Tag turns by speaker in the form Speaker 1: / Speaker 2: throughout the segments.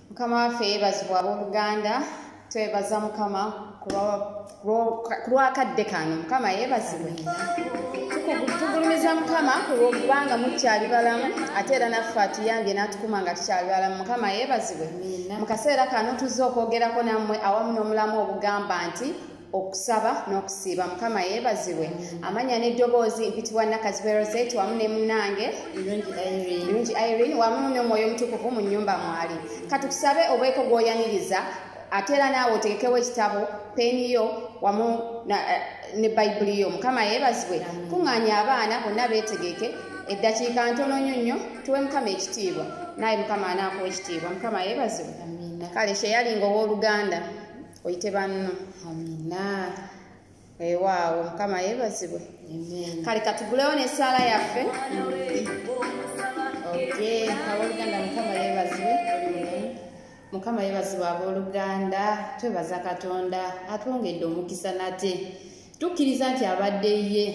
Speaker 1: mukama waffe yebazibwa abooluganda twebaza mukama kulwakadde kano mukama yebazibwe tugulumiza mukama kulwokubanga mukyali balamu ate era naffe atuyambye natukuma nga tukyali balamu mukama yebazibwe mu kaseera kano tuzze okwogerako nammwe awamu n'omulamu obugamba nti okusaba n'okusiiba mukama yeebazibwe amanya n'eddoboozi mpitibwa nakazibwe roset wamu ne munnange irungi irene wamu n'omwoyo omutukuvu mu nnyumba mwali katukusabe obweko gw'oyaniriza ate era naawe otegekewo ekitabo peeni yo wamu eh, ne bayibuli yo mukama yeebazibwe kuŋŋaanya abaana bonna beetegeke eddakiika ntono nyo nnyo tuwe mukama ekitiibwa naawe mukama anaakuwa ekitiibwa mukama yeebazibwe kale kyeyalinga ow'oluganda oyite banno amina ewaawo mukama yebazibwe kale katugulewo nesaala yaffe aboluganda mukama yebazibwe mukama yebazibwe aboluganda twebaza katonda atwongedde omukisa nate tukkiriza nti abadde ye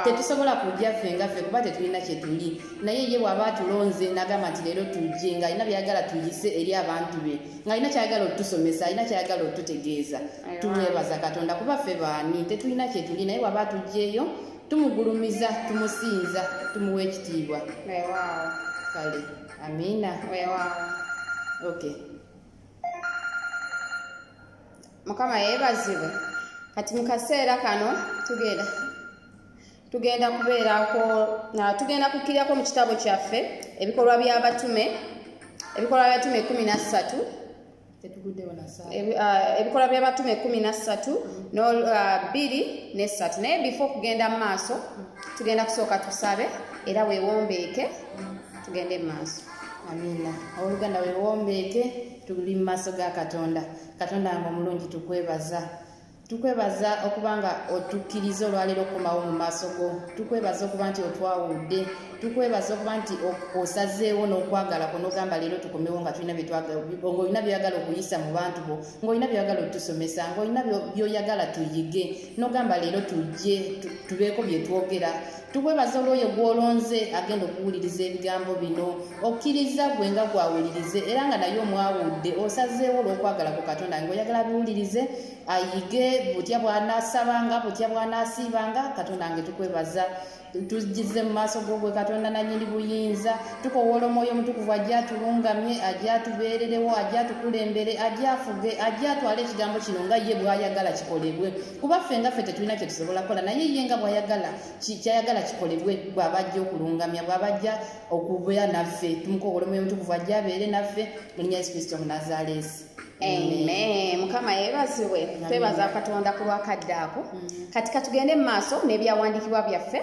Speaker 1: tetusobola kujja ffe nga ffe kuba tetulina kyetuli naye ye bw'aba atulonze n'agamba nti leero tujje ng'alina byayagala tuyise eri abantu be ng'alina kyayagala otusomesa alina kyayagala otutegeeza tumwebaza katonda kuba ffe baani tetulina kyetuli naye bw'aba atugjeeyo tumugulumiza tumusinza tumuwa ekitiibwa kale amiina okay mukama yeebazibwe kati mu kaseera kano tugenda tugenda kubeerako tugenda kukkirirako mu kitabo kyaffe ebikolwa by'abatume ebikolwa by'abatume kumi na ssatu Ah, ebikolwa byabatume ekumi nassatu nbiri ah, nessatu naye bifo okugenda mu maaso tugenda kusooka tusabe era wewombeeke tugende mu maaso amina owoluganda wewombeeke tuli mu maaso ga katonda katonda wange omulungi tukwebaza tukwebaza okuba nga otukkiriza olwaleero okukomawo mu maaso go tukwebaza okuba nti otwawudde tukwebaza okuba nti osazeewo n'okwagala kwo nogamba leero tukomewo nga tulina ngaolina byoyagala okuyisa mu bantu bo ngaolina byoyagala otusomesa ngaolina byoyagala tuyige nogamba leero tujje tubeeko byetwogera tukwebaza olwoyo gwolonze agenda okuwuliriza ebigambo bino okkiriza gwe nga gwawulirize era nga naye omwawudde osazeewo olwokwagala ku katonda nga oyagala biwulirize ayige butya bwanasabanga butya bwanasiibanga katonda nge tukwebaza tujize mu maaso gogwe katonda nanyini buyinza tukowoola omwoyo omutukuvu ajja atulungamye ajja atubeererewo ajja atukulembere ajja afuge ajja atwale ekigambo kino nga ye bwayagala kikolebwe kuba ffe nga ffe tetulina kye tusobola kukola naye ye nga bwayagala kyayagala kikolebwe bw'aba ajja okulungamya bw'aba ajja okubeera naffe tumukowola omwoyo mutukuvu ajja abeere naffe mu linya yesu kristo munazaleesi amen mukama yebazibwe twebaza katonda ku lwakadde ako mm. kati katugende mu maaso n'ebyawandiikibwa byaffe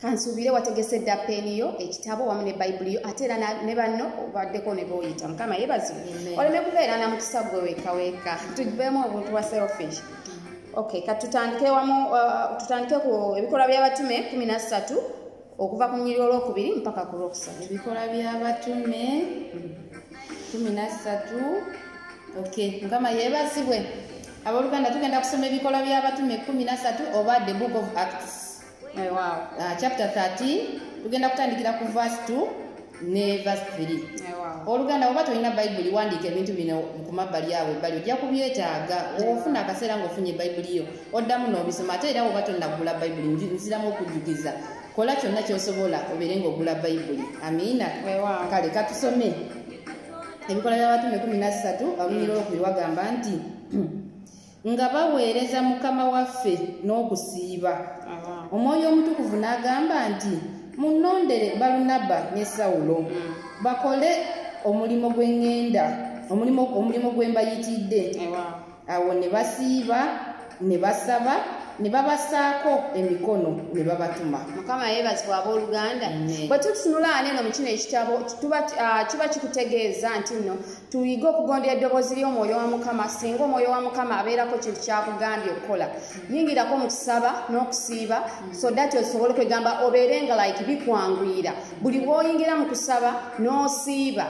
Speaker 1: kansuubire wategese dda peeni yo ekitabo wamu ne bayibuli yo ate era ne banno obaddeko ne booyita mukama yebazi oleme kubeera na mukisa gwe wekaweka tugiveemu obuntu bwa selfish okay katutandike wamu uh, tutandike ku ebikolwa by'abatume kumi na ssatu okuva ku nyiri olwokubiri mpaka ku lwokusatu ebikolwa by'abatume kumi na ssatu okay mukama yebazibwe abooluganda tugenda kusoma ebikolwa by'abatume kumi na ssatu oba the book of acts Eh, wow. uh, chapter 13 tugenda kutandikira ku verse 2 ne verse 3 eh, oluganda oba tolina bayibuli wandiika ebintu bino ku mabbali awo ebbali ojja kubyetaaga ofuna akaseera ngaofunye bayibuli yo oddamu n'obisoma ate era oba tonagula bayibuli nziramu okujjukiza kola kyonna kyosobola obeere ngaogula bayibuli amiina eh, kale katusome ebikola by'abatume 13 alunyira olwokubiri wagamba nti nga baweereza mukama waffe n'okusiiba omwoyo omutukuvu n'agamba nti munnondere balunaba ne sawulo bakole omulimu gw'eŋŋenda omulimu gwe mbayitidde awo ne basiiba ne basaba ne babasaako emikono ne babatuma mukama yeebazibwa abooluganda bwe tutunulaana eno mu kino ekitabo ah, kiba kikutegeeza nti nno tuyige okugondera eddoboozi ly'omwoyo wa mukama singa omwoyo wa mukama abeerako kintu kyakugambye okukola yingirako mu kusaba n'okusiiba so dat osobole okwegamba obeere nga like bikwanguyira buli bwoyingira mu kusaba n'osiiba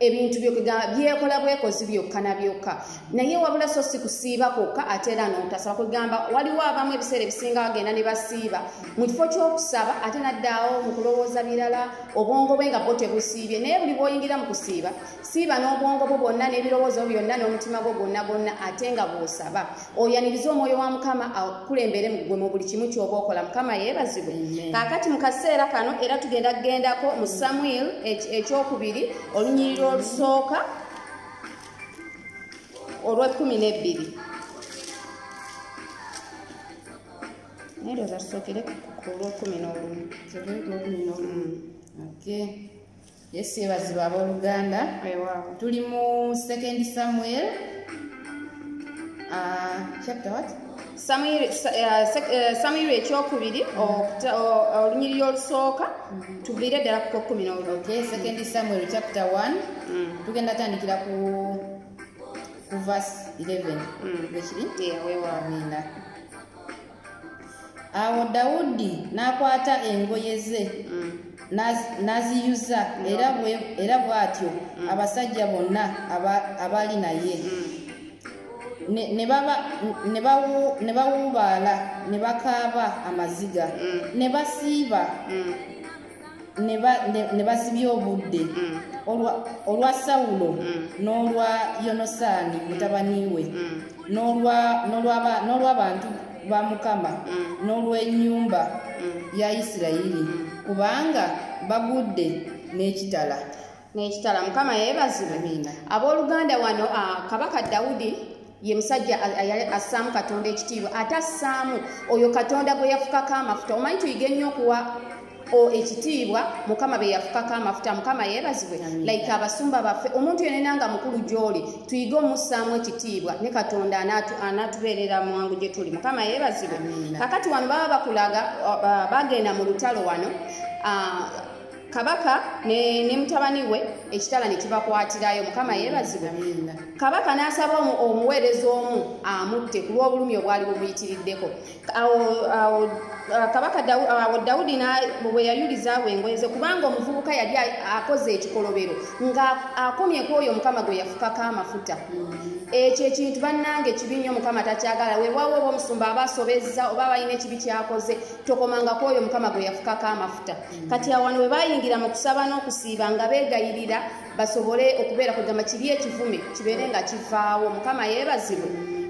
Speaker 1: ebintu
Speaker 2: byekola bwekozi byokka na byokka naye wabula so si kusiiba kwokka ate era notasaba kwegamba waliwo abamu ebiseera ebisinga bagenda ne basiiba mu kifo ky'okusaba ate naddaawo mu kulowooza birala obwongo bwe nga bwo tebusiibye naye buli bwoyingira mu kusiiba siiba n'obwongo bwo bwonna n'ebirowoozo byonna n'omutima gwo gwonna gwonna ate nga bw'osaba oyaniriza omwoyo wa mukama akulembere gwe mu buli kimu ky'oba okola mukama yeebazibwe kaakati mu kaseera kano era tugenda kugendako mu samuel ekyokubiri olunyiriro olusooka olw'ekkumi n'ebbiri naye lwoza tusookere ku lw'ekkumi n'olumu
Speaker 1: Yesu yebazibwa abooluganda. Tuli mu second Samuel. Uh, chapter what? Samuel, uh, sec, uh, Samuel ekyokubiri olunyiriri olusooka mm-hmm. tuviire ddala ku kumi n'olumu. Okay, second Samuel chapter 1. Mm. Tugenda tandikira ku ku verse 11. Mm. Bwekiri? Yeah, wewa. Amina. awo dawudi n'akwata engoye ze mm. n'aziyuza era bw'atyo mm. abasajja bonna abaali naye mm. ne bawuubaala ne bakaaba amaziga ne basiiba ne basibya obudde mm. olwa sawulo mm. n'olwa yonosaani mm. mutabani we n'olw'abantu ba mukama n'olw'ennyumba ya isirayiri kubanga bagudde n'ekitala nekitala
Speaker 2: mukama yebazibwe abooluganda wano ah, kabaka dawudi ye musajja assaamu katonda ekitiibwa ate assaamu oyo katonda gwe yafukako amafuta omanyi tuyige nnyo okuwa ekitiibwa mukama be yafukako amafuta mukama yeebazibwe like abasumba baffe omuntu yenena nga mukulu gy'oli tuyige omussaamu ekitiibwa ne katonda anatubeerera mwangu gye tuli mukama yeebazibwe kakati wano baba bakulaga bagenda mu lutalo wano ah, kabaka ne, ne mutabani we ekitala ne kibakwatirayo mukama yeebazibwe kabaka n'asaba omuweereza omu amutte ku lw'obulumi obwali bumuyitiriddeko awo awo Uh, kabaka awo uh, dawudi bwe yayulizaawo engoye ze kubanga omuvubuka yali akoze ekikolobero nga akomye ku oyo mukama gwe yafukako amafuta mm-hmm. ekyo ekintu bannange kibi nnyo mukama takyagala wewawo oba omusumba aba asobezza oba balina ekibi kyakoze tokomanga ku oyo mukama gwe yafukako amafuta kati awano bwe bayingira mu kusaba n'okusiiba nga beegayirira basobole okubeera kugamba kibi ekivume kibeere nga kivaawo mukama yeebazibwe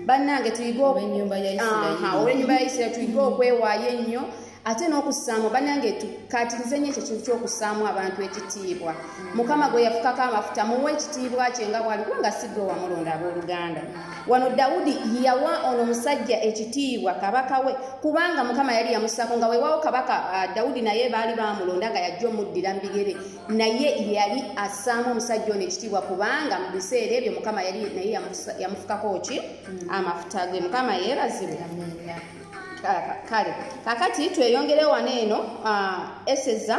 Speaker 2: bannange tuyige ow'ennyumba
Speaker 1: ya isirairi
Speaker 2: tuyige okwewaayo ennyo ate n'okussaamu bannange tukaatirize nnyo ekyo kintu ky'okussaamu abantu ekitiibwa mukama gwe yafukako amafuta muwe ekitiibwa kye nga bwali kubanga si gwe wamulonda abooluganda wano dawudi yawa ono omusajja ekitiibwa kabaka we kubanga mukama yali yamusako nga wewawo kabaka uh, dawudi naye baali bamulonda nga yajja omuddira mubigere naye yali asaamu omusajja ono ekitiibwa kubanga mu biseera ebyo mukama yali naye yamufukako ki mm. amafuta ge mukama yeebazibwe kale kakati tweyongerewo wano eno uh, eseza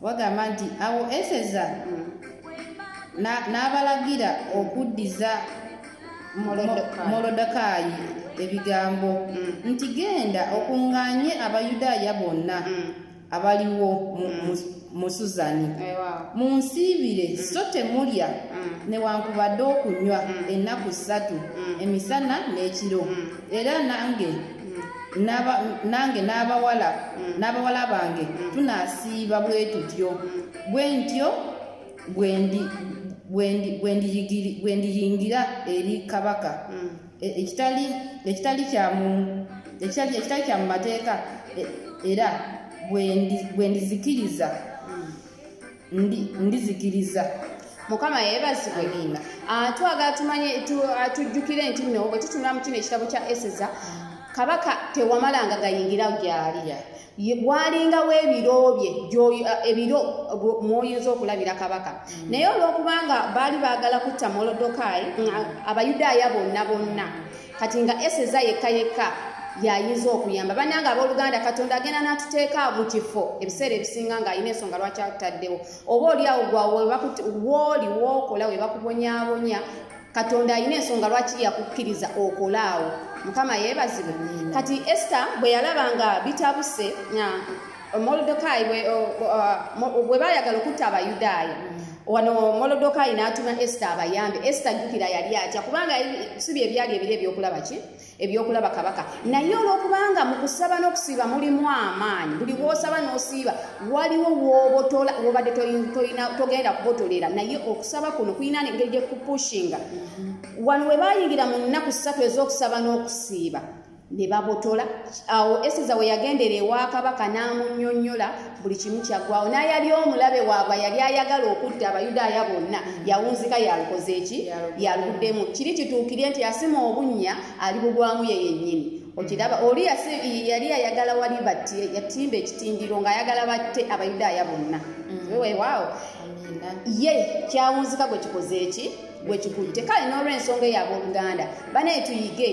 Speaker 1: wagamba nti awo eseza n'abalagira okuddiza molodokaayi ebigambo mm. nti genda okunganye abayudaaya bonna mm. abaliwo mm. mu suzani munsiibire so temulya newankubadde okunywa ennaku ssatu emisana n'ekiro era nange Naba- nange n'abawala n'abawala bange tunasiiba bwe tutyo bwe ntyo bwe ndi- bwe ndi- bwe ndiyigiri- bwe ndiyingira eri kabaka E- ekitali ekitali kya mu ekitali ekitali kya mu mateeka e- era bwe ndi- bwe ndizikiriza ndizikiriza mukama
Speaker 2: yebazibwe nina atwaga tumanye atujjukire nti no bwe tutunula mu kino ekitabo kya eseza kabaka tewamalanga gayingira gyali bwalingawo ebiro bye eh, ebiro mwoyinza okulabira kabaka mm. naye olwokubanga baali baagala kutta molodokayi mm, abayudaaya bonna bonna kati nga eseza yekka yekka yayinza okuyamba bananga abooluganda katonda agenda n'atuteeka mu kifo ebiseera ebisinga ng'alina ensonga lwaki atutaddewo oba oliawo gwawooli wookola we bakubonyabonya katonda alina ensonga lwaki yakukkiriza okolaawo mukama yeebazibwe kati ester bwe yalaba nga bitabuse molodokayi bwe baayagala okutta abayudaaya wano molodokayi n'atuma esita abayambe esita jjukira yali atya kubanga si bye byali ebiro ebyokulaba ki ebyokulaba kabaka naye olwokubanga mu kusaba n'okusiiba mulimu amaanyi buli wosaba n'osiiba waliwo wobotola wobadde togenda kubotolera naye okusaba kuno kulina engeri gyekupushinga wano we bayingira mu nnaku ssatu ez'okusaba n'okusiiba ne babotola awo eseza we yagendera ewa kabaka n'amunyonyola buli kimu kyaggwawo n'ayali omulabe waabwe yali ayagala okutta abayudaaya bonna yawunzika yalukoze eki yaluddemu kiri kituukire nti yasima obunnya ali bugwamu ye yennyini okiraba oli yali ayagala wali batti yatimba ekitindiro ng'ayagala batte abayudaaya bonna mm. wewaawo ye kyawunzika gwe kikoze eki wekikutte kale n'olwensonga eyo abooluganda banaye tuyige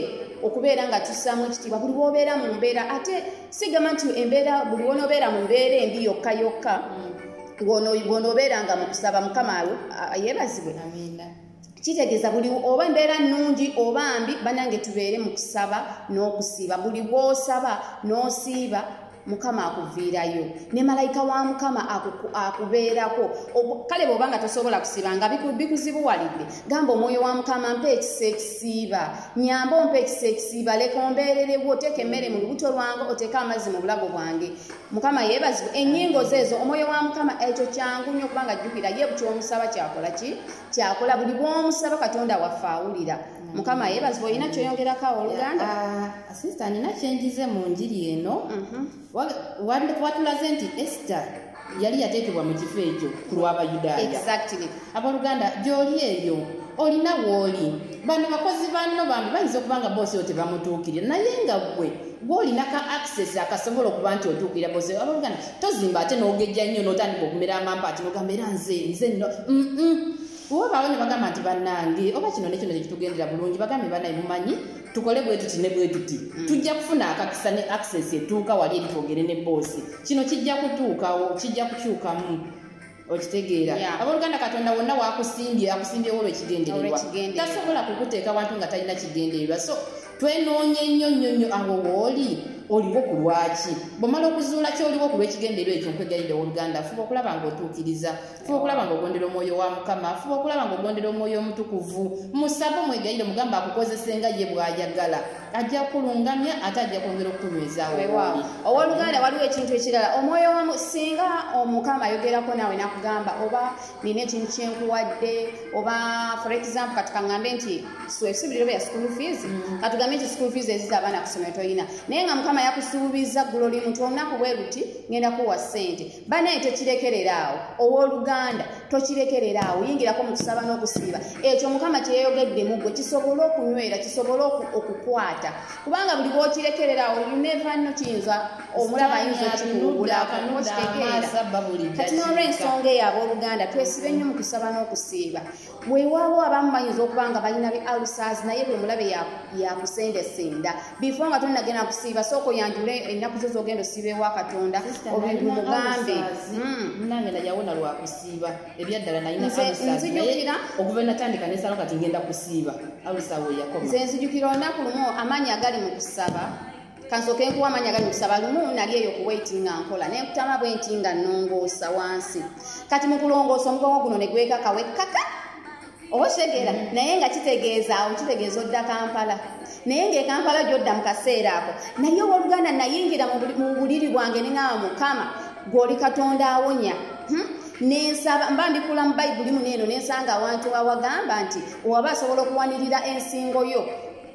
Speaker 2: okubeera nga tussaamu ekitiibwa buli wobeera mu mbeera ate sigamba nti embeera buli wonobeera mu mbeera embi yokka yokka wonobeera nga mukusaba mukama yebazibwe kitegeeza buli oba embeera nnungi oba mbi banange tubeere mu kusaba n'okusiiba buli bwosaba n'osiiba mukama akuviirayo ne malayika wa mukama akubeerako kale bwoba nga tosobola kusiiba nga bikuzibuwalidde gamba omwoyo wa mukama mpa ekisa ekisiiba nyamba ompa ekisa ekisiiba leka ombeererewo oteeka emmere mu lubuto lwange oteeka amazzi mu bulago bwange mukama yeebazibwa ennyingo zeezo omwoyo wa mukama ekyo kyangu nnyo kubanga jjukira ye bukyomusaba kyakola ki kyakola buli bwomusaba katonda waffe awulira mukama yebazibwa olina kyoyongerako awooluganda ah, sista nina
Speaker 1: kyenjize mu njiri eno mhm. watulaze nti ester yali yateekebwa mu kifo ekyo ku lw'abayudaaya abooluganda gyoli eyo olina wooli bano bakozi banno bambi bayinza okuba nga boosi oyo tebamutuukirira naye nga gwe gwolina ka access akasobola okuba nti otuukirira boosi abooluganda tozimba ate n'ogejja nnyo n'otandika okumera amampa ati nogamba era nze nze nno wabaawo ne bagamba nti bannange oba kino ne kino kyekitugendera bulungi bagambe banaye mumanyi tukole bwe tuti ne bwe tuti mm. tujja kufuna akakisa ne access etuuka wali eri twogere ne boosi kino kijja kutuukawo kijja kukyukamu okitegeera abooluganda katonda wonna wakusimbye akusimbyewo olwekigendererwa tasobola kukuteeka bantu nga talina kigendererwa so twenoonye nnyo nnyo nnyo awo wooli oliwo ku lwaki bwomala okuzuula kyoliwo ku lwekigendererwa ekyo nkwegayidde owoluganda fuba okulaba ngaotuukiriza fuba okulaba nga ogondera omwoyo wa mukama fuba okulaba nga ogondera omwoyo omutukuvu musaba omwegayire omugamba akukozese nga ye bwayagala ajja kulungamya ate ajja kwongera okukunywezaawo owoluganda
Speaker 2: waliwo ekintu ekirala omwoyo wamu singa omukama ayogerako naawe nakugamba oba nina ekintu kyenkuwadde oba for example katukaŋambe nti swesubirira oba ya school fees mm. katugambe nti school fees eziza abaana kusomero tolina naye nga mukama yakusuubiza ggulo limu nti olunaku bwe luti ngenda kuwa ssente banaye tokirekerera awo owoluganda tokirekerera awo yingirako mu kusaba n'okusiiba ekyo mukama kyeyayogedde mu gwe kisobole okunywera kisobole okukwata kubanga buli bwokirekerera awo yunevanno kiyinza omulaba ayinza okikuwugulakonokirekerera kati n'olwensonga eyo ab'oluganda twesibe nnyo mu kusaba n'okusiiba weewaawo abamu bayinza okuba nga balina bi alusaz naye bwe mulabe yakusendesenda bifo nga tonagenda kusiiba sooka oyanjule ennaku zo zogenda osiiba ewa katonda
Speaker 1: obimugambe nze nzijukira olunaku
Speaker 2: lumu amaanyi agali mu kusaba kansooka enkuwa amanya gali mukusaba lumu nali eyo kuwaiti nga nkola nenkutama bwe nti nga nongoosa wansi kati mu kulongoosa omugongo guno ne gwekaka wekkaka oba okitegera naye nga kitegeeza awo kitegeeza odda kampala naye ngaekampala gyodda mu kaseera ako naye owoluganda nayingira mu buliri bwange neŋawa mukama gwoli katonda awonya hmm? nensaba mba mbikula mu bayibuli muneeno nensanga awantu awagamba nti owaba asobola okuwanirira ensingo yo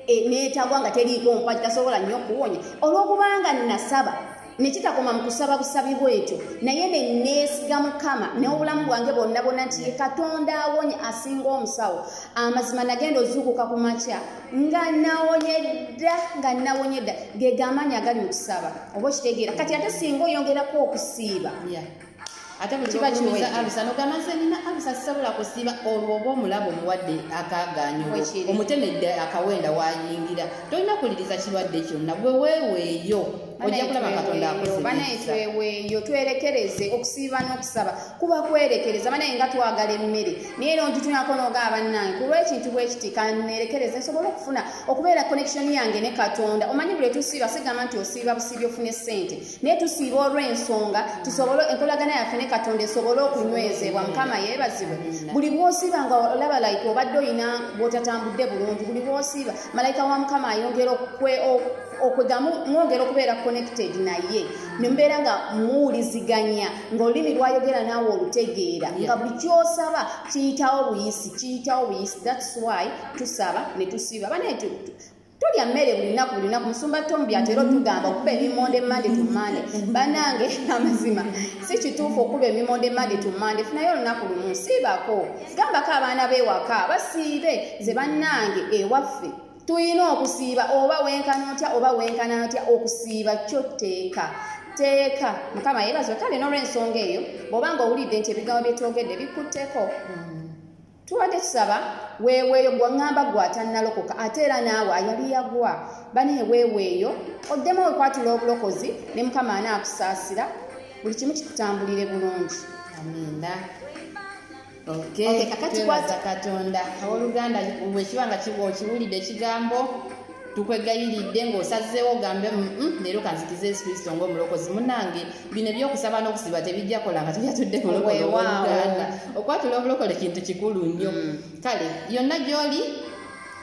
Speaker 2: e, neetagwa nga teriiko mpagi tasobola nnyo okuwonya olw'okubanga nasaba nekitakoma mu kusaba busabi bwetyo naye neneesiga mukama n'obulamu bwange bonna bonna nti ye katonda awonye asinga omusawo amazima nagenda ozuukuka ku makya nga nawonye dda nga nawonye dda ge gamaanyi agali mu kusaba oba okitegeera kati ate singa oyongerako okusiiba yeah. ate
Speaker 1: bwekiba kiweza alusa nogamba nze nina alusa sisobola kusiba olwo oba omulabo omuwadde akaganyo omutemedde akawenda wayingira tolina kuwuliriza kirwadde kyonna gwe weeweeyo ojja kulaba katonda akozebanaye tweweeyo
Speaker 2: twerekereze okusiiba n'okusaba kuba kwerekereza banaye nga twagala emmere naye era ongitunako noogaa bannange ku lwekintu bwekiti kanerekereze nsobole okufuna okubeera connection yange ne katonda omanyi buli etusiiba sigamba nti osiiba busiibi ofune ssente naye tusiiba olw'ensonga tusobole enkolagana yaffe ne katonda esobole okunywezebwa mukama yeebazibwe buli bwosiiba nga olaba like obadde olina bwotatambudde bulungi buli bwosiiba malayika wa mukama ayongera okwegamu mwongera okubeera connected naye nembeera nga muwuliziganya ngaolulimi lwayogera naawe olutegeera nga buli kyosaba kiyitawo buyisi kiyitawo buyisi thats why tusaba ne tusiiba bane tolya mmere buli lunaku buli lunaku musumba tomu byatera otugamba okuba ebimonde mande to mande banange amazima si kituufu okuba ebimonde mande to mande funayo olunaku lumu siibako gambako abaana b'ewaka basiibe ze bannange ewaffe tulina okusiiba oba wenkana otya oba wenkana otya okusiiba kyo tteeka teeka mukama yebaziwe kale n'olwensonga eyo bw'oba nga owulidde nti ebigambo byetwogedde bikutteko mm. tubadde tusaba weeweeyo gwaŋŋamba gwe atannalokoka ate era naawe ayali yagwa bane weeweeyo oddemu wekwatula obulokozi ne mukama anaakusaasira buli kimu kikutambulire bulungi amiina
Speaker 1: kakati kwaza katonda awooluganda wekiba nga kiwulidde ekigambo tukwegayiridde ng'osazeewo ogambe mm, mm, leero kanzikiza yesu kristo ng'omulokozi munange bino ebyokusaba n'okusiba tebijja kola nga tubyatudde mulokoleuganda okwatula obulokole kintu kikulu nnyo mm. kale yonna gyoli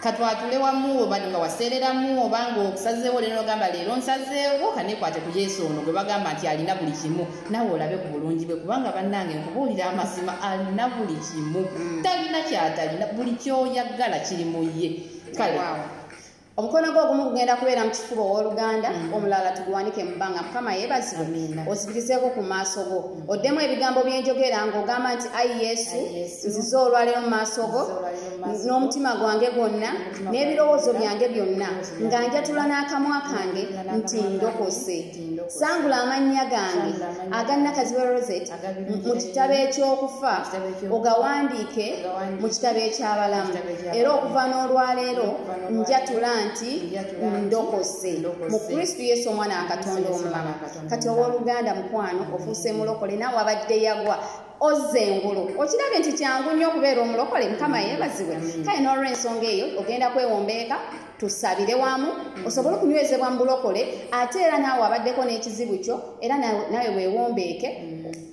Speaker 1: katwatule wamu oba nga waseereramu oba ngaokusazeewo leero nogamba leero nsazeewo kanekwate ku yesu ono gwe bagamba nti alina buli kimu nawe olabe ku bulungi bwe kubanga bannange nkubuulira amazima alina buli kimu talina kyatalina buli kyoyagala kiri mu ye kale omukono
Speaker 2: gwo ogumu gugenda kubeera mu kifuba ow'oluganda mm. omulala tuguwanike mu bbanga mukama yeebazibwe ozibirizeeko ku maaso go mm. oddemu ebigambo byenjogera ng'ogamba nti ayi yesu nzize olwaleero mu maaso go n'omutima gwange gwonna n'ebirowoozo byange byonna nga njatula n'akamwa kange nti ndokose sangula amannya gange aganna kaziwe rosette mu kitabo ekyokufa ogawandiike mu kitabo ekyabalamu era okuva n'olwaleero njatula nti ndokose mu kristu yesu omwana wa katonda omulala kati ow'oluganda mukwano ofuuse mulokole naawe abadde yagwa ozza engulu okirabye nti kyangu nnyo okubeera omulokole mukama yeebazibwe kale n'olwensonga eyo ogenda kwewombeeka tusabire wamu osobole okunywezebwa mu bulokole ate era naawe abaddeko n'ekizibu kyo era naawe weewombeeke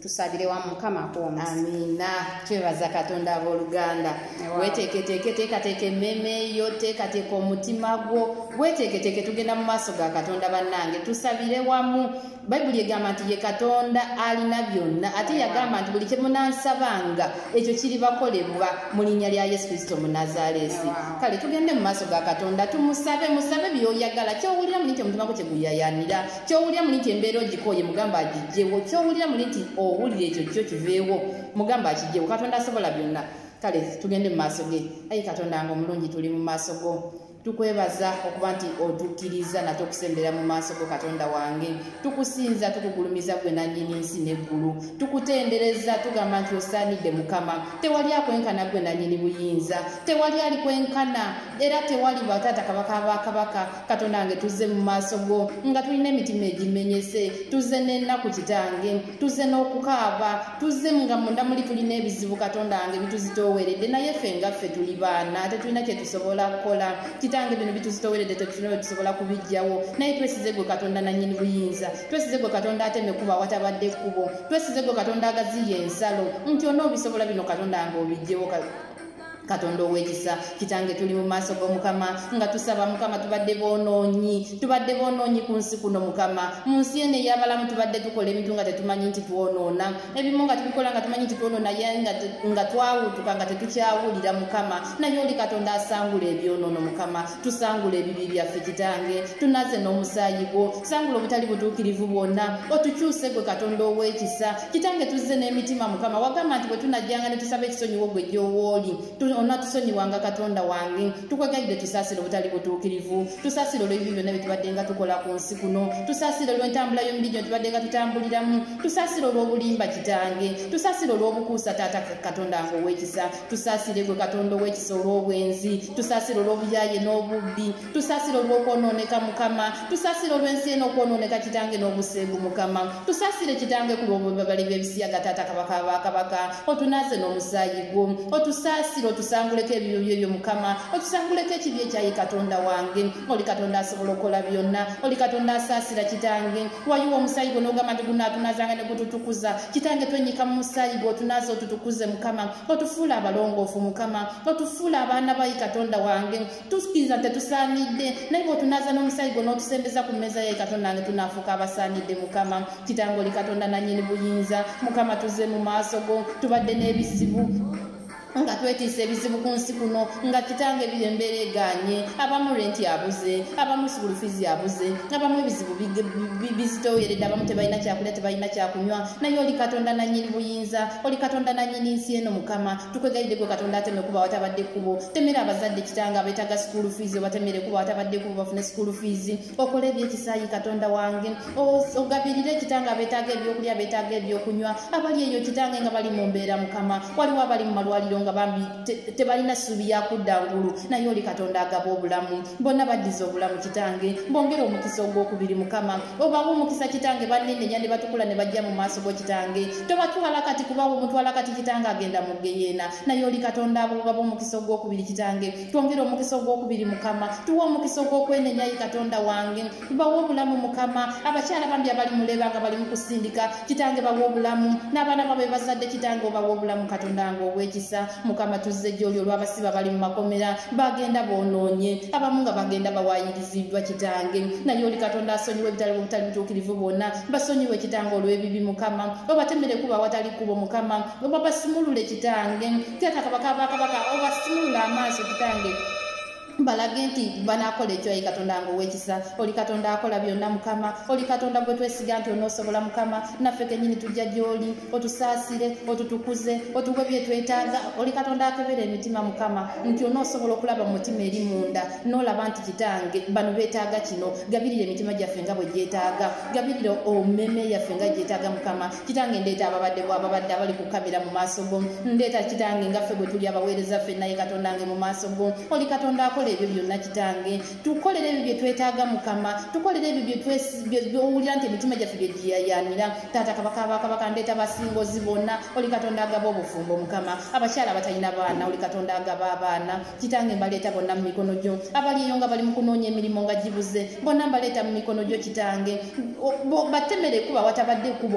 Speaker 2: tusabire wamu mukama akuwomu amiina
Speaker 1: twebaza katonda abooluganda weteeketeeke teekateeka emmeeme yo teekateeka omutima gwo weteeketeeke tugenda mu maaso ga katonda bannange tusabire wamu bayibuli egamba nti ye katonda alina byonna ate yagamba nti buli kyemunansabanga ekyo kiribakolebwa mu linnya lya yesu kristo munazaaleesi kale tugende mu maaso ga katonda tumusabe musabe byoyagala kyowulira muli nti omutima gwo kyeguyayanira kyowulira muli nti embeera ogikooye mugamba agijjewo kyowulira muli nti owulira ekyo kyo kiveewo mugamba akijjewo katonda asobola byonna kale tugende mu maaso ge ayi katonda nga omulungi tuli mu maaso go tukwebaza okuba nti otukkiriza nate okusembera mu maaso go katonda wange tukusinza tukugulumiza gwe nannyini nsi n'eggulu tukutendereza tugamba nti osaanidde mukama tewali akwenkana gwe nannyini buyinza tewali ali kwenkana era tewali bataata kabaka bakabaka katonda wange tuzze mu maaso go nga tulina emitima egimenyese tuzze n'ennaku kitange tuzze n'okukaaba tuzze nga munda muli tulina ebizibu katonda wange bituzitooweredde naye ffe nga ffe tuli baana tetulina kye tusobola kukola kitange bino bituzitooweredde tetulina bwe tusobola kubijjawo naye twesize gwe katonda nannyini buyinza twesize gwe katonda ateme kuba watabadde ekkubo twesize gwe katonda agaziya ensalo nti onoobisobola bino katonda wange obijjewo katonda owekisa kitange tuli mu maaso g'omukama nga tusaba mukama tubadde bonoonyi tubadde bonoonyi ku nsi kuno mukama mu nsi eno eyabalamu tubadde tukola ebintu nga tetumanyi nti twonoona ebimu nga tubikola nga tumanyi nti twonoona ye nga twawutuka nga tetukyawulira mukama naye oli katonda asangula ebyonoono mukama tusangula ebibi byaffe kitange tunaze n'omusaayi gwo sangula obutali butuukirivu bwonna otukyuse gwe katonda ow'ekisa kitange tuzze n'emitima mukama wagamba nti bwe tunajjanga ne tusaba ekisonyiwo gwe gy'owooli onatusonyiwanga katonda wange tukwegalidde tusaasire obutali butuukirivu tusaasire olw'ebyo byonna bye tubadde nga tukola ku nsi kuno tusaasire olw'entambula y'omubiri gyo tubadde nga tutambuliramu tusaasire olw'obulimba kitange tusaasire olw'obukuusa taata katonda nga ow'ekisa tusaasire gwe katonda ow'ekisa olw'obwenzi tusaasire olw'obuyaaye n'obubbi tusasira olw'okwonooneka mukama tusasira olw'ensi eno okwonooneka kitange n'obuseegu mukama tusasire kitange ku lw'obubabali b'ebisiyaga taata kabaka abakabaka otunaaze n'omusaayi gwo otusaasire otusanguleko ebiyo byo ebyo mukama otusanguleko ekibi ekyayi katonda wange oli katonda asobola okukola byonna oli katonda asaasira kitange wayiwa omusaayi gwo n'ogamba nti gunaatunazanga ne gututukuza kitange twennyika mu musaayi gwo otunaaze otutukuze mukama otufuula abalongoofu mukama otufuula abaana bayi katonda wange tusikiriza nti tetusaanidde naye bwotunaaza n'omusaayi gwo n'otusembeza ku mmeeza yaye katonda nge tunaafuuka abasaanidde mukama kitange oli katonda nannyini buyinza mukama tuze mu maaso go tubadde n'ebizibu nga twetiisa ebizibu ku nsi kuno nga kitange biri embeera eganye abamu renti abuze abamu sukulu fizi abuze abamu ebizibu bizitoweredde abamu tebalina kyakulya tebalina kyakunywa naye oli katonda nanyini buyinza oli katonda nanyini nsi eno mukama tukwegayidde gwe katonda ateme kuba watabadde kubo temera abazadde kitanga abetaga school fees obatemere kuba watabadde kubo bafune school fees okole ebyekisayi katonda wange ogabirire kitanga abetaga ebyokulya betaga ebyokunywa abali eyo kitange nga bali mumbeera mukama waliwo abali mu malwaliro nga bambi tebalina ssuubi yakudda ngulu naye oli katonda agaba obulamu bonna baddiza obulamu kitange bongere omukisa ogwokubiri mukama obawa omukisa kitange banenenya ne batukula ne bajja mu maaso go kitange tobatwala kati kubawo omutwala kati kitange agenda mu geyeena naye oli katonda abo baba omukisa ogwokubiri kitange twongere omukisa ogwokubiri mukama tuwa omukisa ogwokwenenyayi katonda wange bawa obulamu mukama abakyala bambi abali muleba nga balimu kusindika kitange bawa obulamu n'abaana babo bebazadde kitange obawa obulamu katonda wange obwekisa mukama tuzze gyoli olw'abasiba bali mu makomera bagenda boonoonye abamu nga bagenda bawaayiriziddwa kitange naye oli katonda asonyiwa ebitali bubutali butuukirivu bwonna basonyiwa ekitange olw'ebibi mukama obatemere kuba awatali kubo mukama oba basimulule kitange teeka kabaka bakabaka obasimulule amaaso kitange balage nti banakola ekyo ayi katonda nga owekisa oli katonda akola byonna mukama oli katonda gwe twesiga nti onoosobola mukama naffe kenyini tujja gyoli otusaasire otutukuze otuwe byetwetaaga oli katonda akebera emitima mukama nti onoosobola okulaba mu mutima eri munda noolaba nti kitange bano beetaaga kino gabirira emitima gyaffe nga bwe gyetaaga gabirira omeme yaffe nga gyetaaga mukama kitange ndeeta ababadde bwababadde abali ku kamera mu maaso go ndeeta kitange nga ffe bwe tuli abaweereza ffe naye katonda nge mu maaso go oli katonda akola ebyo byonna kitange tukolere ebyo bye twetaaga mukama tukolere ebyo byowulira nti emitima gyaffe bye giyayanira taata kabaka bakabaka ndeeta basingozi bonna oli katonda agaba obufumbo mukama abakyala abatalina baana oli katonda agaba abaana kitange mbaleeta bonna mu mikono gyo abali eyo nga bali mu kunoonya emirimu nga gibuze bonna mbaleeta mu mikono gyo kitange battemere kuba watabadde kubo